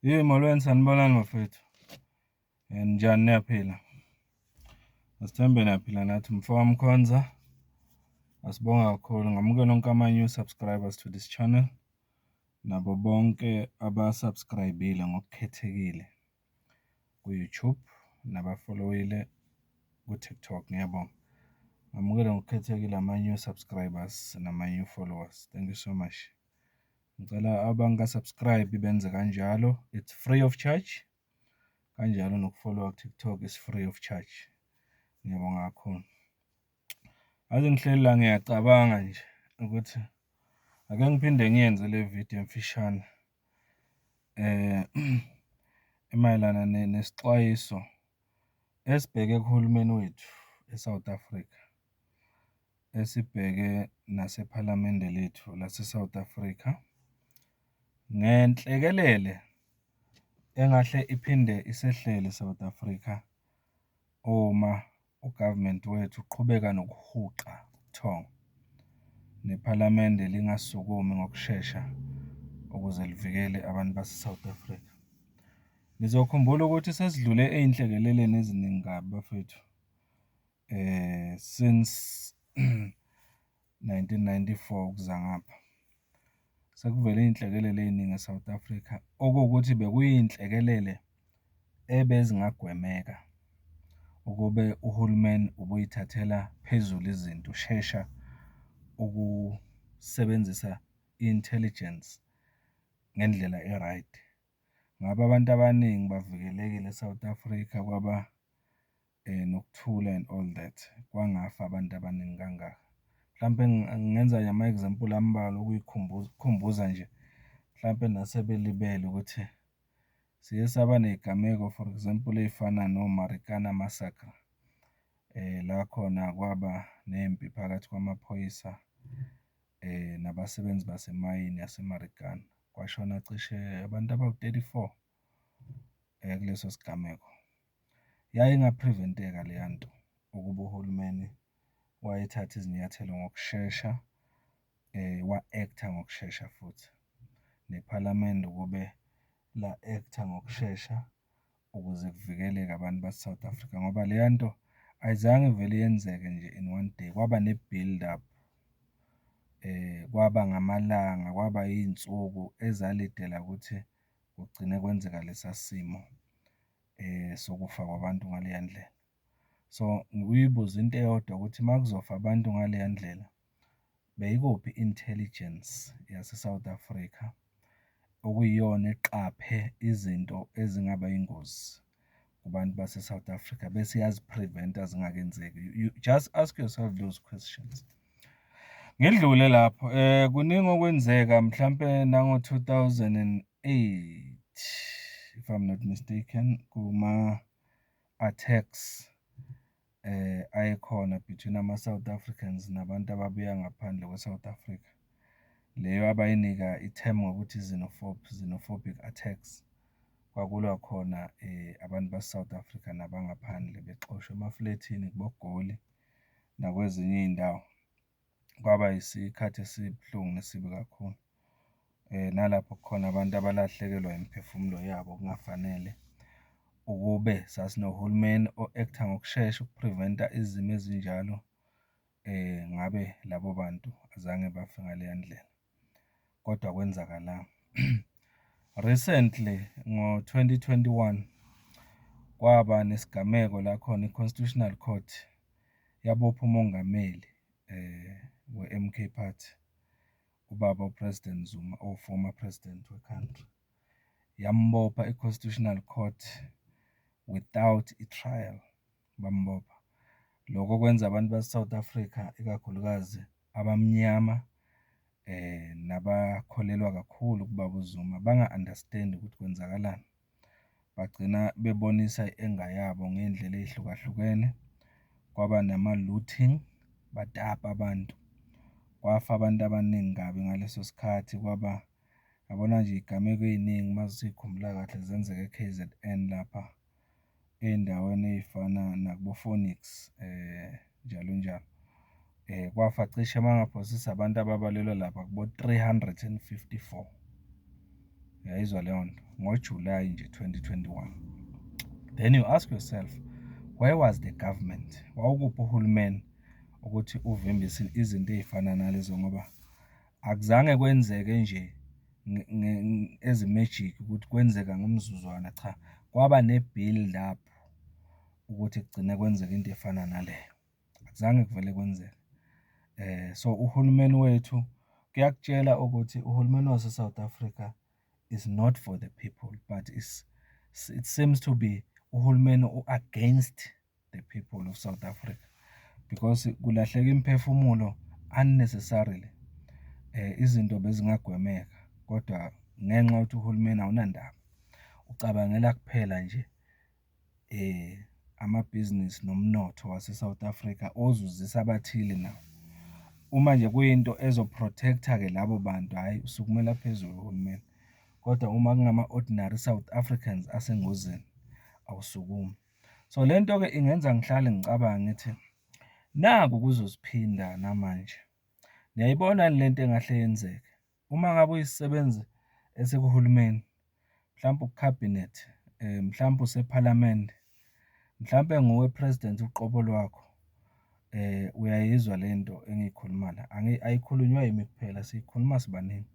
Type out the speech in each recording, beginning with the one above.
Yey molweni sanibonani bafethu and njani niyaphila asithembe niyaphila nathi mfo wamkhonza asibonga kakhulu ngamukela onke ama-new subscribers to this channel nabo bonke abasubscribile ngokukhethekile ku-youtube nabafolowile ku-tiktok ngiyabonga ngamukela ngokukhethekile ama-new subscribers nama-new followers thank you so much Ngicela abangaka-subscribe benze kanjalo, it's free of charge. Kanjalo nokufolowa ku-TikTok is free of charge. Ngiyabonga kakhulu. Aze ngihleli la ngiyacabanga nje ukuthi ake ngiphinde ngiyenze le video emfishane eh emayelana nesixwayiso esibheke kuhulumeni wethu eSouth Africa. esibheke nasePhalamende lethu laseSouth Africa ngenhlekelele engahle iphinde isehlele iSouth Africa uma u-government wethu uqhubeka nokuhuqa ubuthongo, nePhalamende lingasukumi ngokushesha ukuze livikele abantu baseSouth Africa. Nizokhumbula ukuthi sesidlule ey'nhlekeleleni eziningi kabi bafwethu. since nineteen ninety-four ukuza ngapha, sekuvele iy'nhlekelele ey'ningi e-South Africa, okuwukuthi bekuyiy'nhlekelele ebezingagwemeka ukube uhulumeni ubuyithathela phezulu izinto, ushesha ukusebenzisa i-intelligence ngendlela e-right. Ngabe abantu abaningi bavikelekile e-South Africa kwaba. nokuthula and all that kwangafa abantu abaningi kangaka. Mhlampe ngingenza nje ama-example ambalwa ukukhumbuza nje mhlampe nasebelibele ukuthi siye saba ney'gameko for example ey'fana no-Marikana massacre la khona kwaba nempi phakathi kwamaphoyisa nabasebenzi basemayini yase-Marikana kwashona cishe abantu abawu-thirty-four kuleso sigameko. Yayinga-prevent-eka leya nto ukuba uhulumeni wayethatha izinyathelo ngokushesha, wa-act-a ngokushesha futhi, nePhalamende ukube la-act-a ngokushesha ukuze kuvikeleke abantu base-South Africa ngoba leya nto ayizange ivele yenzeke nje in one day, kwaba ne-build up, kwaba ngamalanga, kwaba iy'nsuku ezalidela ukuthi kugcine kwenzeka lesa simo. sokufa kwabantu ngaleya ndlela. So, ngikuyibuze into eyodwa ukuthi uma kuzofa abantu ngaleya ndlela, beyikuphi i-intelligence yaseSouth Africa okuyiyona eqaphe izinto ezingaba yingozi kubantu baseSouth Africa bese iyazi-prevent-a zingakenzeki. You just ask yourself those questions. Ngidlule lapho kuningi okwenzeka mhlampe nango-two thousand and eight if I'm not mistaken kuma-attacks ayekhona between ama-South Africans nabantu ababuya ngaphandle kwe-South Africa. Leyo abayinika i-term ngokuthi xenophobe, xenophobic attacks. Kwakulwa khona abantu base-South Africa nabangaphandle bexoshwa emaflethini kuboGoli. nakwezinye iy'ndawo kwaba isikhathi esibuhlungu nesibi kakhulu. Nalapho kukhona abantu abalahlekelwa imiphefumulo yabo kungafanele. Ukube sasinohulumeni o-act-a ngokushesha uku-prevent-a izimo ezinjalo ngabe labo bantu azange bafe ngaleya ndlela. kodwa kwenzakala. Recently ngo-2021 kwaba nesigameko la khona i-Constitutional Court yabopha umongameli eh we-MK Party ubaba uPresident Zuma o-former president we-country yambopha i-Constitutional Court without i-trial. bambopha. Lokho kwenza abantu base-South Africa ikakhulukazi abamnyama nabakholelwa kakhulu kubaba uZuma banga-understand ukuthi kwenzakalani. Bagcina bebonisa i-anger yabo ngey'ndlela ey'hlukahlukene, kwaba nama-looting, batapa abantu, kwafa abantu abaningi kabi ngaleso sikhathi kwaba yabona nje iy'gameko ey'ningi uma sikhumbula kahle zenzeka e-K_Z_N lapha. ey'ndaweni ey'fana nakubo-Phoenix njalo njalo. Kwafa cishe uma ngaphosisa abantu ababalelwa lapha kubo-three hundred and fifty-four, uyayizwa leyo nto, ngoJulayi nje twenty twenty-one. Then you ask yourself where was the government, wawukuphi uhulumeni ukuthi uvimbise izinto ey'fana nalezo ngoba. Akuzange kwenzeke nje ezimejiki ukuthi kwenzeka ngomzuzwana cha kwaba ne-build up ukuthi kugcine kwenzeka into efana naleyo akuzange kuvele kwenzeke eh so uhulumeni wethu kuyakutshela ukuthi uhulumeni wase-South Africa is not for the people but is it seems to be uhulumeni u-against the people of South Africa because kulahleka imphefumulo unnecessarily eh izinto bezingagwemeka kodwa ngenxa ukuthi uhulumeni awunandaba ucabangela kuphela nje eh amabhizinisi nomnotho wase-South Africa ozuzisa abathile nawo uma nje kuyinto ezoprotecta ke labo bantu hhayi usukumela phezulu uhulumeni kodwa uma kungama-ordinary South Africans asengozini awusukumi. So le nto-ke ingenza ngihlale ngicabange ngithi naku kuzoziphinda namanje. Niyayibona yini le nto engahle yenzeke? Uma ngabe uyisebenzi esikuhulumeni, mhlawumpe uKhabhinet, mhlawumpe usePhalamende, mhlawumpe nguwe President uqobo lwakho, uyayizwa le nto engiyikhuluma la, ayikhulunywa yimi kuphela siyikhuluma sibaningi.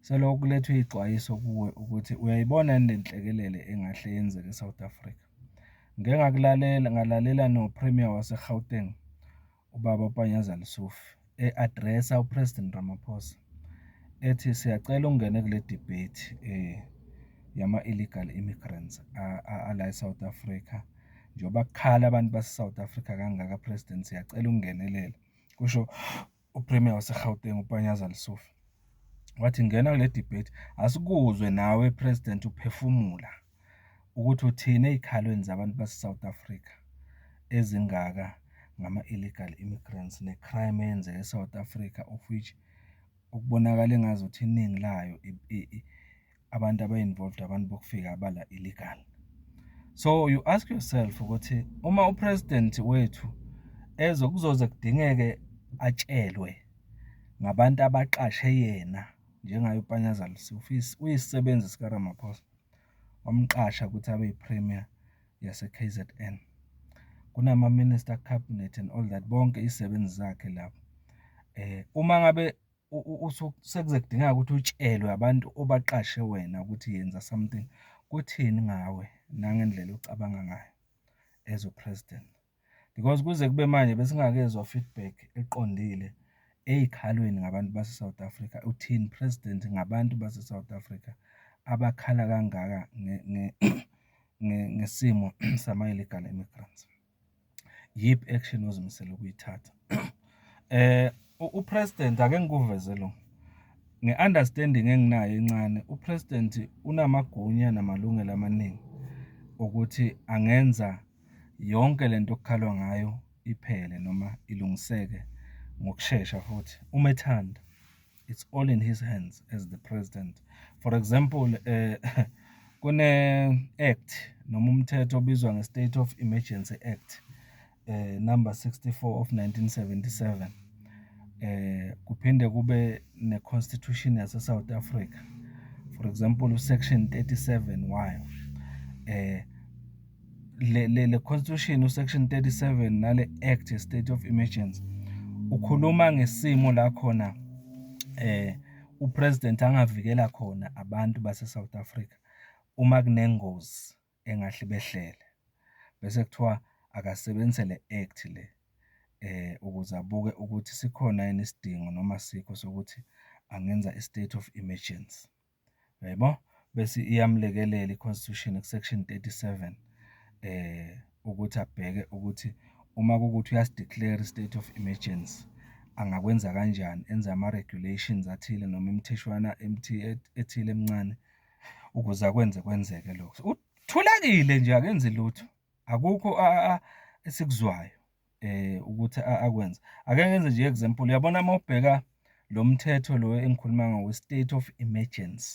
Selokhu kulethwe iy'xwayiso kuwe ukuthi uyayibona yini le nhlekelele engahle yenzeke e-South Africa. Ngike ngakulalela ngalalela noPremier wase-Gauteng, uBaba Panyaza Lesufi. e-address-a uPresident Ramaphosa ethi siyacela ungene kule debate eh yama-illegal immigrants ala e-South Africa njengoba kukhala abantu base-South Africa kangaka President siyacela ungenelela, kusho uPremier waseGauteng uPanyaza Lesufi. Wathi ngena kule debate asikuzwe nawe President uphefumula. ukuthi uthini ey'khalweni zabantu base-South Africa ezingaka ngama-illegal immigrants ne-crime eyenzeke e-South Africa of which okubonakala engazuthi iningi layo abantu aba-involved abantu bokufika abala illegal. So you ask yourself ukuthi uma u-president wethu ezo kuzoze kudingeke atshelwe ngabantu abaqashe yena njengaye uPanyaza Lesufi uyisebenzi sikaRamaphosa. wamqasha ukuthi abe yiPremier yaseKZN. KunamaMinister, Cabinet and all that, bonke izisebenzi zakhe labo. Eh, uma ngabe sekuze kudingeka ukuthi utshelwe abantu obaqashe wena ukuthi yenza something, kuthini ngawe nangendlela ocabanga ngayo as uPresident? because kuze kube manje besingakezwa feedback eqondile ey'khalweni ngabantu base-South Africa. Uthini President ngabantu base-South Africa abakhala kangaka ngesimo sama-illegal immigrants? Yiphi action ozimisele ukuyithatha? Eh uPresident ake ngikuveze lo nge-understanding enginayo encane uPresident unamagunya namalungelo amaningi ukuthi angenza yonke le nto okukhalwa ngayo iphele noma ilungiseke ngokushesha futhi uma ethanda it's all in his hands as the president for example eh kune act noma umthetho obizwa nge-state of emergency act eh number 64 of 1977 eh kuphinde kube ne-constitution yase-south africa for example usection 37 wayo eh le le, le constitution usection 37 nale act ye state of emergency ukhuluma ngesimo la khona eh upresident angavikela khona abantu base South Africa uma kunengozi engahle behlele bese kuthiwa akasebenzise le act le eh ukuze abuke ukuthi sikhona yini isidingo noma sikho sokuthi angenza i state of emergency. Uyabo? Bese iyamlekelela i-Constitution ku-Section 37 ukuthi abheke ukuthi uma kuwukuthi uyasi-declare i-state of emergency, angakwenza kanjani, enze ama-regulations athile noma imitheshwana ethile emincane ukuze akwenze kwenzeke lokho. Uthulekile nje akenzi lutho, akukho esikuzwayo. eh ukuthi akwenze ake ngenze nje example uyabona uma ubheka lo mthetho lo engikhuluma ngawo state of emergency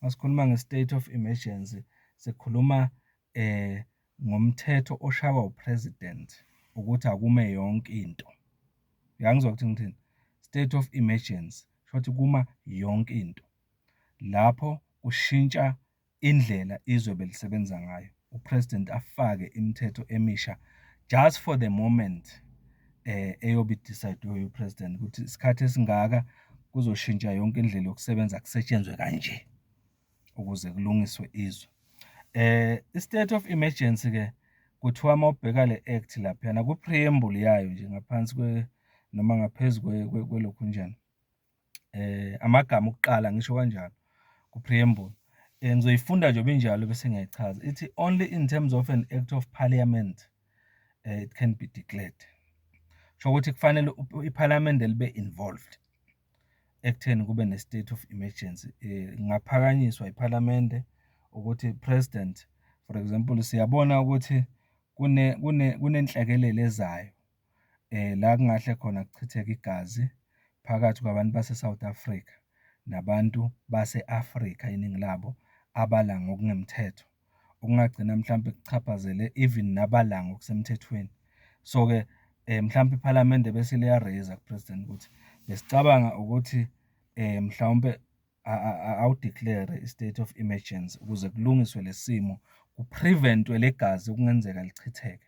masikhuluma nge-state of emergency sikhuluma eh ngomthetho oshawa upresident ukuthi akume yonke into uyangizwa ukuthi ngithini state of emergency shothi kuma yonke into lapho kushintsha indlela izwe belisebenza ngayo upresident afake imithetho emisha just for the moment eh eyobe idecide upresident ukuthi isikhathi esingaka kuzoshintsha yonke indlela yokusebenza kusetshenzwe kanje ukuze kulungiswe izwe eh i-state of emergency ke kuthiwa uma ubheka le act laphana ku-preamble yayo nje ngaphansi kwe noma ngaphezu kwelokhu njani eh amagama okuqala ngisho kanjalo ku preamble eh, ngizoyifunda nje binjalo bese ngiyayichaza ithi only in terms of an act of parliament eh, it can be declared sho ukuthi kufanele iparliament libe involved ekutheni kube ne state of emergency eh, ngaphakanyiswa iparliament ukuthi president for example siyabona ukuthi kune kunenhlekelele ezayo la kungahle khona kuchitheke igazi phakathi kwabantu baseSouth Africa nabantu base-Afrika iningi labo abala ngokungemthetho, okungagcina mhlampe kuchaphazele even nabala ngokusemthethweni. So-ke mhlampe iPhalamende bese liya-raiser kuPresident ukuthi besicabanga ukuthi mhlawumpe awu-declare-re i-state of emergency ukuze kulungiswe le simo, ku-prevent-we le gazi okungenzeka lichitheke.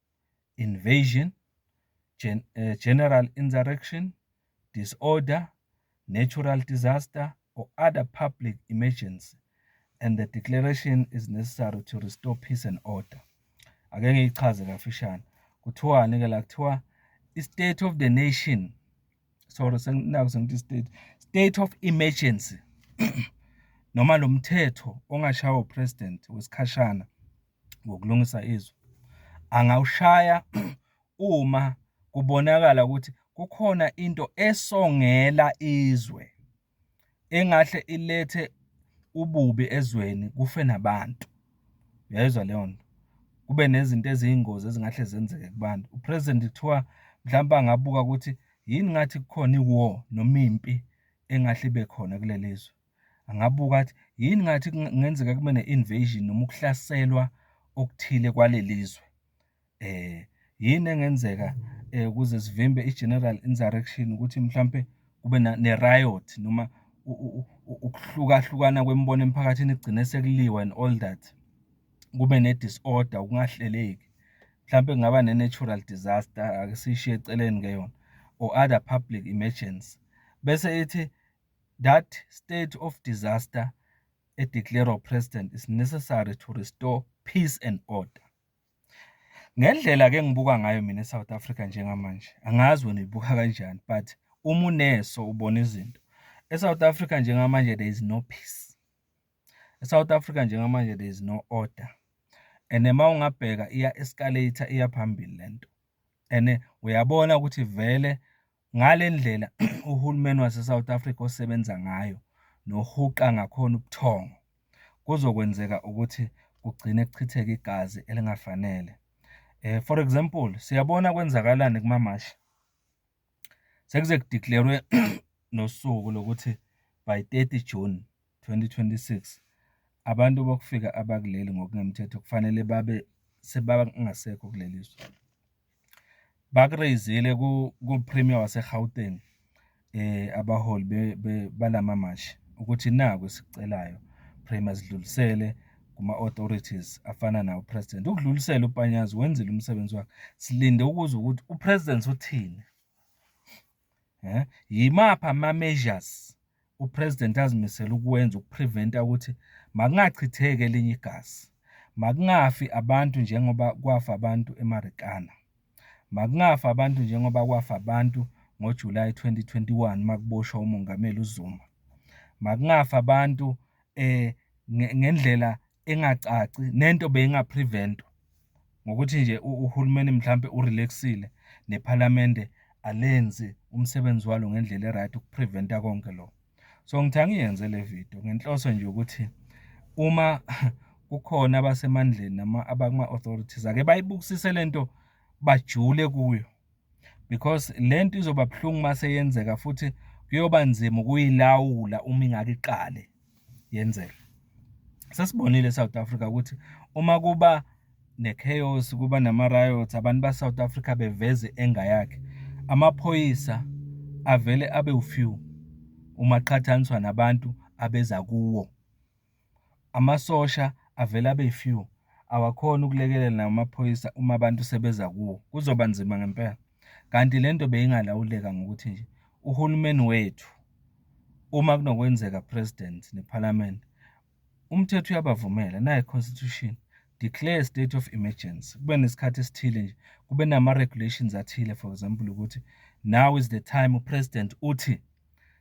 invasion, general insurrection, disorder, natural disaster or other public emergency and the declaration is necessary to restore peace and order. Ake ngiyichaze kafishane. Kuthiwani ke la kuthiwa i state of the nation sorry senginaku sengithi state state of emergency noma lo mthetho ongashawa upresident wesikhashana ngokulungisa izwe angawushaya uma kubonakala ukuthi kukhona into esongela izwe engahle ilethe ububi ezweni kufe nabantu uyayizwa leyo nto kube nezinto eziyingozi ezingahle zenzeke kubantu upresident kuthiwa mhlawumbe angabuka ukuthi yini ngathi kukhona i-war noma impi engahle ibe khona kuleli zwe angabuka athi yini ngathi kungenzeka kube ne-invasion noma ukuhlaselwa okuthile kwaleli zwe eh yini engenzeka eh, ukuze sivimbe i-general insurrection ukuthi mhlampe kube ne-riot noma ukuhlukahlukana kwemibono emphakathini kugcine sekuliwa and all that kube ne-disorder ukungahleleki mhlampe kungaba ne-natural disaster ake siyishiye eceleni ke yona or other public emergency bese ithi That state of disaster e declare president is necessary to restore peace and order. Ngendlela ke ngibuka ngayo mina South Africa njengamanje angazi wena uyibuka kanjani but uma uneso ubona izinto e South Africa njengamanje there is no peace. E South Africa njengamanje there is no order. And uma ungabheka iya escalator iya phambili lento. And uyabona ukuthi vele Ngale ndlela uhulumeni waseSouth Africa osebenza ngayo nohuqa ngakhona ubuthongo, kuzokwenzeka ukuthi kugcine kuchitheka igazi elingafanele. Eh, for example, siyabona kwenzakalani kumamashi. Sekuze kudeclare-we nosuku lokuthi by 30 June 2026, abantu bokufika abakuleli ngokungemthetho kufanele babe sebangasekho kuleli zwe. Bakureyizile ku-Premier waseGauteng eh abaholi balamamashi ukuthi naku esicelayo Premier sidlulisele kuma-authorities afana nawo president ukudlulisela upanyazi wenzile umsebenzi wakhe silinde ukuzwa ukuthi upresident uthini eh yimapha ama measures upresident azimisela ukwenza ukupreventa ukuthi makungachitheke elinye igazi makungafi abantu njengoba kwafa abantu emarikana makungafi abantu njengoba kwafa abantu ngoJuly 2021 makuboshwa umongameli uZuma makungafi abantu eh ngendlela engacaci nento beyinga prevent ngokuthi nje uhulumeni mhlambe urelaxile nephalamende alenzi umsebenzi walo ngendlela eright ukupreventa konke lo so ngithi angiyenze le video ngenhloso nje ukuthi uma kukhona abasemandleni nama abakuma authorities ake bayibukisise lento bajule kuyo because le nto izoba buhlungu uma seyenzeka futhi kuyoba nzima ukuyilawula uma ingake iqale yenzeka sesibonile eSouth Africa ukuthi uma kuba ne-chaos kuba nama-riots abantu ba-south africa beveze enga yakhe amaphoyisa avele abe ufew uma qhathaniswa nabantu abeza kuwo Amasosha avele abe few awakhoni ukulekelela nawo amaphoyisa uma abantu sebeza kuwo kuzoba nzima ngempela. Kanti le nto beyingalawuleka ngokuthi nje uhulumeni wethu uma kunokwenzeka president nephalamende umthetho uyabavumela naye constitution declare a state of emergency kube nesikhathi esithile nje kube nama-regulations athile for example ukuthi now is the time upresident uthi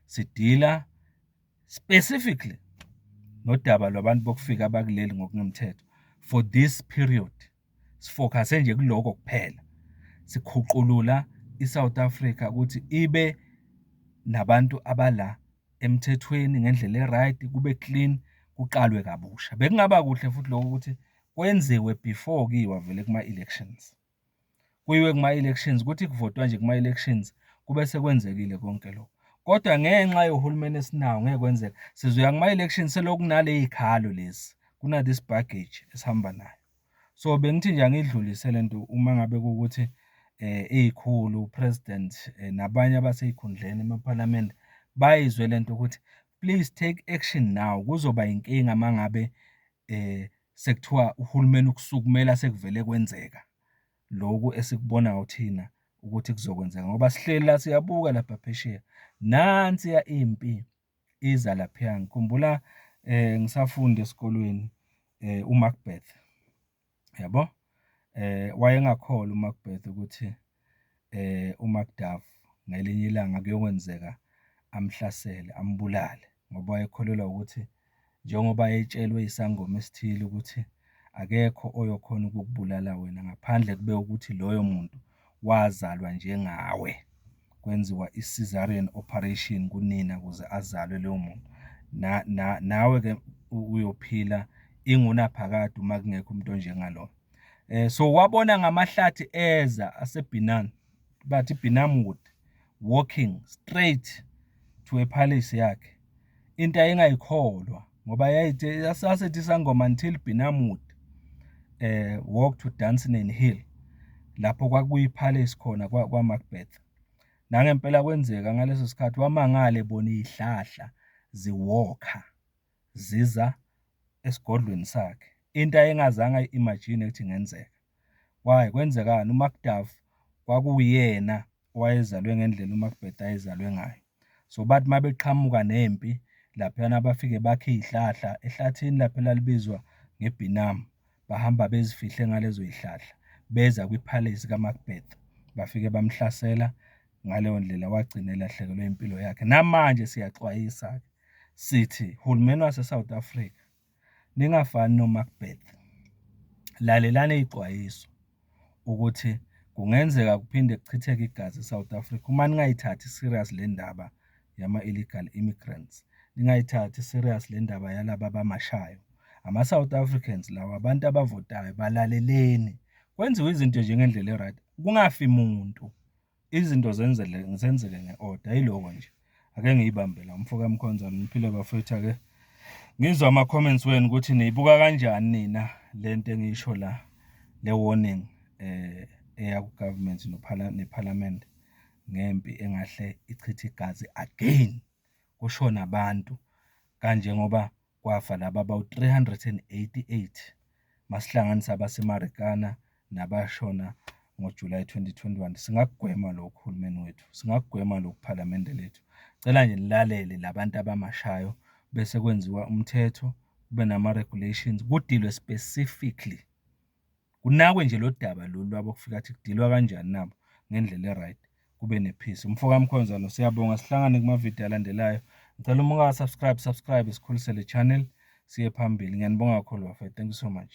sidila specifically nodaba lwabantu bokufika abakuleli ngokungemthetho for this period sifocuse nje kuloko kuphela sikhuqulula iSouth Africa ukuthi ibe nabantu abala emthethweni ngendlela eright kube clean kuqalwe kabusha bekungaba kuhle futhi lokho ukuthi kwenziwe before kiwa vele kuma elections. kuyiwe kuma-elections kuthi kuvotwa nje kuma-elections kube sekwenzekile konke lokho kodwa ngenxa yohulumeni esinawo ngeke kwenzeka sizoya kuma-elections selokhu kunaley'khalo lezi kuna-this baggage esihamba nayo so bengithi nje angidlulise le nto uma ngabe kuwukuthi um iy'khulu upresident um nabanye abasey'khundleni emaphalamende bayizwe le nto ukuthi please take action now kuzoba yinkinga uma ngabe um sekuthiwa uhulumeni ukusukumela sekuvele kwenzeka loku esikubonayo thina ukuthi kuzokwenzeka ngoba sihleli la siyabuka lapha phesheya nansi ya impi iza lapha ngikhumbula eh ngisafunda esikolweni eh uMacbeth yabo eh wayengakholwa uMacbeth ukuthi uMacduff ngelinye ilanga kuyokwenzeka amhlasele, ambulale ngoba wayekholelwa ukuthi njengoba etshelwe isangoma esithile ukuthi akekho oyokhona ukukubulala wena ngaphandle kube ukuthi loyo muntu wazalwa njengawe, kwenziwa i-cesarean operation kunina ukuze azalwe loyo muntu. Nawe-ke uyophila ingunaphakade uma kungekho umuntu onjengalona. eh so wabona ngamahlathi eza aseBinan bathi Binamwood walking straight to a palace yakhe into ayengayikholwa ngoba yayithi yasasethi sangoma until Binamwood eh walk to Dunsinane Hill lapho kwakuyi palace khona kwa, kwa Macbeth nangempela kwenzeka ngaleso sikhathi wamangale bona izihlahla ziwalker ziza esigodlweni sakhe into ayengazange ayi-imagine ukuthi ingenzeka why kwenzekani uMacDuff kwakuyena owayezalwe ngendlela uMacBeth ayezalwe ngayo so bathi uma beqhamuka nempi laphayana bafike bakhe iy'hlahla ehlathini lapho elalibizwa ngebhinam bahamba bezifihle ngalezo y'hlahla beza kwiphalesi kaMacBeth bafike bamhlasela ngaleyo ndlela wagcina elahlekelwe impilo yakhe namanje siyaxwayisa-ke. Sithi, hulumeni waseSouth Africa, ningafani noMacbeth. Lalelani izixwayiso ukuthi kungenzeka kuphinde kuchitheke igazi eSouth Africa uma ningayithathi serious le ndaba yama-illegal immigrants, ningayithathi serious le ndaba yalaba abamashayo. Ama-South Africans lawa abantu abavotayo balaleleni, kwenziwe izinto nje ngendlela e-right, kungafi muntu. Izinto zenzele zenzeke nge-oda yiloko nje, ake ngiyibambe la umfoka Mkhonzana. Niphile bafethu ake ngizwe ama-comments wenu ukuthi niyibuka kanjani nina le nto engiyisho la le warning eh eya ku-government nephalamende ngempi engahle ichithe igazi again kushone abantu kanjengoba kwafa laba abawu-388 masihlanganisa abaseMarikana nabashona ngoJulayi 2021. Singakugwema lokhu uhulumeni wethu, singakugwema lokhu phalamende lethu. Cela nje nilalele labantu abamashayo bese kwenziwa umthetho kube nama-regulations kudilwe specifically kunakwe nje lo daba lolu lwabo kufika athi kudilwa kanjani nabo ngendlela e-right kube ne-peace umfokamkhonzalo siyabonga sihlangane kumavidiyo alandelayo ngicela uma ungasubscribe subscribe sikhulise le channel siye phambili ngiyanibonga kakhulu bafethu thank you so much